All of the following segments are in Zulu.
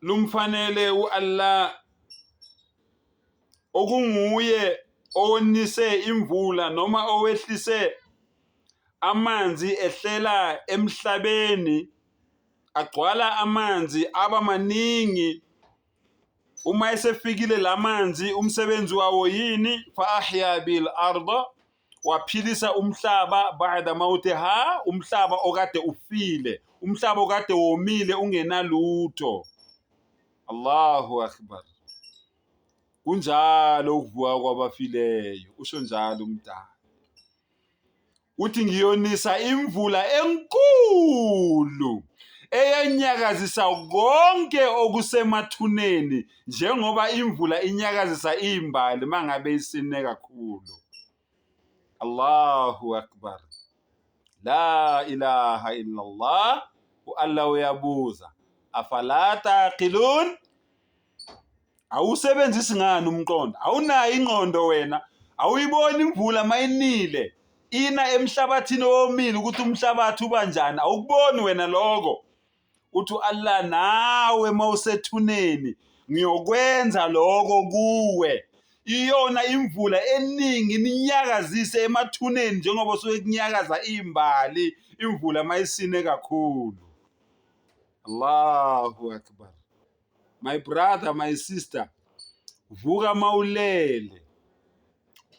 lumfanele u-Allah okunguye owonise imvula noma owehlise amanzi ehlela emhlabeni agcwala amanzi aba maningi uma esefikile lamanzi umsebenzi wawo yini fa ahya bil arda waphilisa umhlaba ba'da mawtiha umhlaba okade ufile umhlaba okade womile ungenalutho Allahu akbar kunjalo ukuvuka kwabafileyo usho njalo umdala uthi ngiyonisa imvula enkulu eyenyakazisa konke okusemathuneni njengoba imvula inyakazisa imbali mangabe isine kakhulu Allahu akbar la ilaha illallah uAllah uyabuza afala taqilun awusebenzisi ngani umqondo awunayo ingqondo wena awuyiboni imvula mayinile ina emhlabathini owomile ukuthi umhlabathi uba njani awukuboni wena loko uthi uAllah nawe mawusethuneni ngiyokwenza lokho kuwe iyona imvula eningi ninyakazise emathuneni njengoba suke kunyakaza imbali imvula mayisine kakhulu Allahu akbar my brother my sister vuka mawulele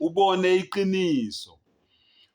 ubone iqiniso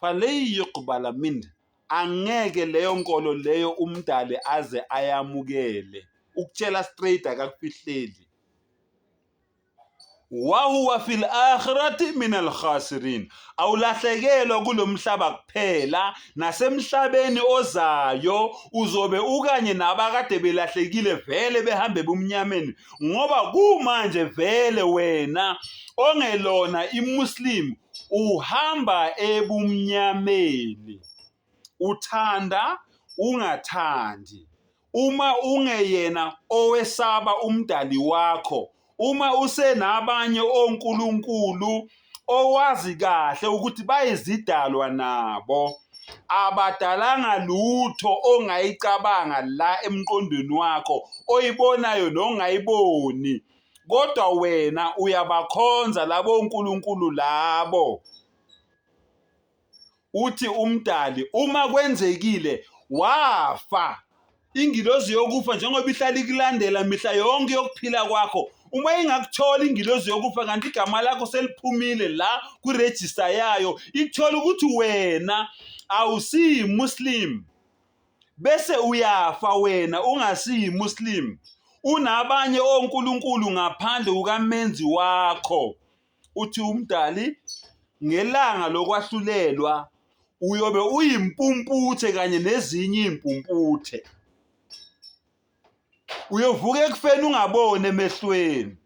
faleyi yuqbala mind angeke leyo nkolo leyo umdali aze ayamukele ukutshela straight akakufihleli wahuwa fil akhirati min alkhasirin awulahlekelwa kulo mhlaba kuphela nasemhlabeni ozayo uzobe ukanye nabakade belahlekile vele behambe bumnyameni ngoba kumanje vele wena ongelona imuslim uhamba ebumnyameni uthanda ungathandi uma ungeyena owesaba umdali wakho uma usenabanye onkulunkulu owazi kahle ukuthi bayizidalwa nabo abadalanga lutho ongayicabanga la emqondweni wakho oyibonayo nongayiboni kodwa wena uyabakhonza labo nkulunkulu labo uthi umdali uma kwenzekile wafa ingilozi yokufa njengoba ihlala ikulandela mihla yonke yokuphila kwakho uma ingakuthola ingilozi yokufa kanti igama lakho seliphumile la kwirejista yayo ikuthola ukuthi wena awusiyimuslim bese uyafa wena ungasiyimuslim unabanye onkulunkulu ngaphandle ukamenzi wakho uthi uMdali ngelanga lokwahlulelwa uyobe uyimpumputhe kanye nezinye impumputhe uyovuka ekufeni ungaboni emehlweni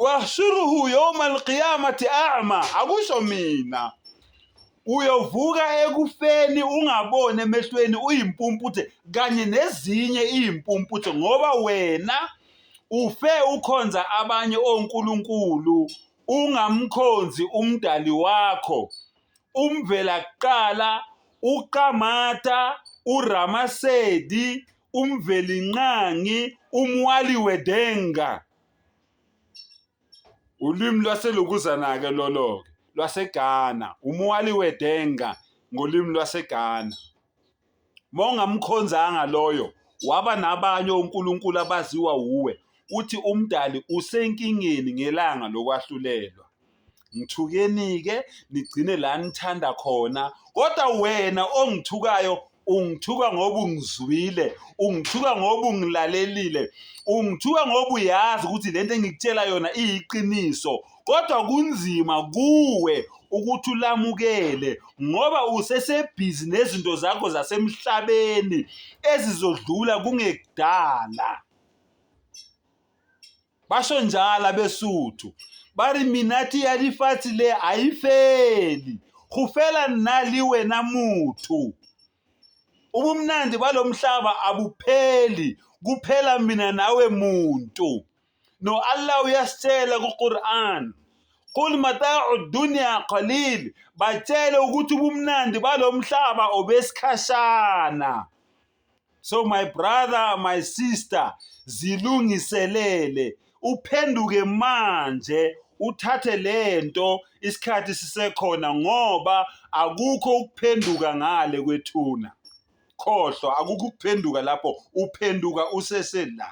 wahshuruhu yawma alqiyamati a'ma akusho mina uyovuka ekufeni ungaboni emehlweni uyimpumputhe kanye nezinye iyimpumputhe ngoba wena Ufe ukhonza abanye onkulunkulu ungamkhonzi uMdali wakho, uMvelakuqala, uQamata, uRamasedi, uMvelinqangi, uMwali weDenga. Ulimi lwaseLokuzana-ke lolo-ke lwaseGhana, uMwali weDenga ngolimi lwaseGhana. Mawungamkhonzanga loyo, waba nabanye onkulunkulu abaziwa wuwe, uthi uMdali usenkingeni ngelanga lokwahlulelwa. Ngithukeni-ke nigcine la nithanda khona, kodwa wena ongithukayo ungithuka ngoba ungizwile, ungithuka ngoba ungilalelile, ungithuka ngoba uyazi ukuthi lento engikutshela yona iyiqiniso kodwa kunzima kuwe ukuthi ulamukele ngoba usesebhizi nezinto zakho zasemhlabeni ezizodlula kungekudala basho njalo abesuthu bari minati ya lefatshe le a yi feli go fela nna le wena motho ubumnandi balo mhlaba abupheli kuphela mina nawe muntu No Allah uyasitshela kuQuran Qul mata'u dunya qalil batshele ukuthi ubumnandi balomhlaba obesikhashana So my brother my sister zilungiselele uphenduke manje uthathe lento isikhathi sisekhona ngoba akukho ukuphenduka ngale kwethuna khohlwa akukho ukuphenduka lapho uphenduka usesela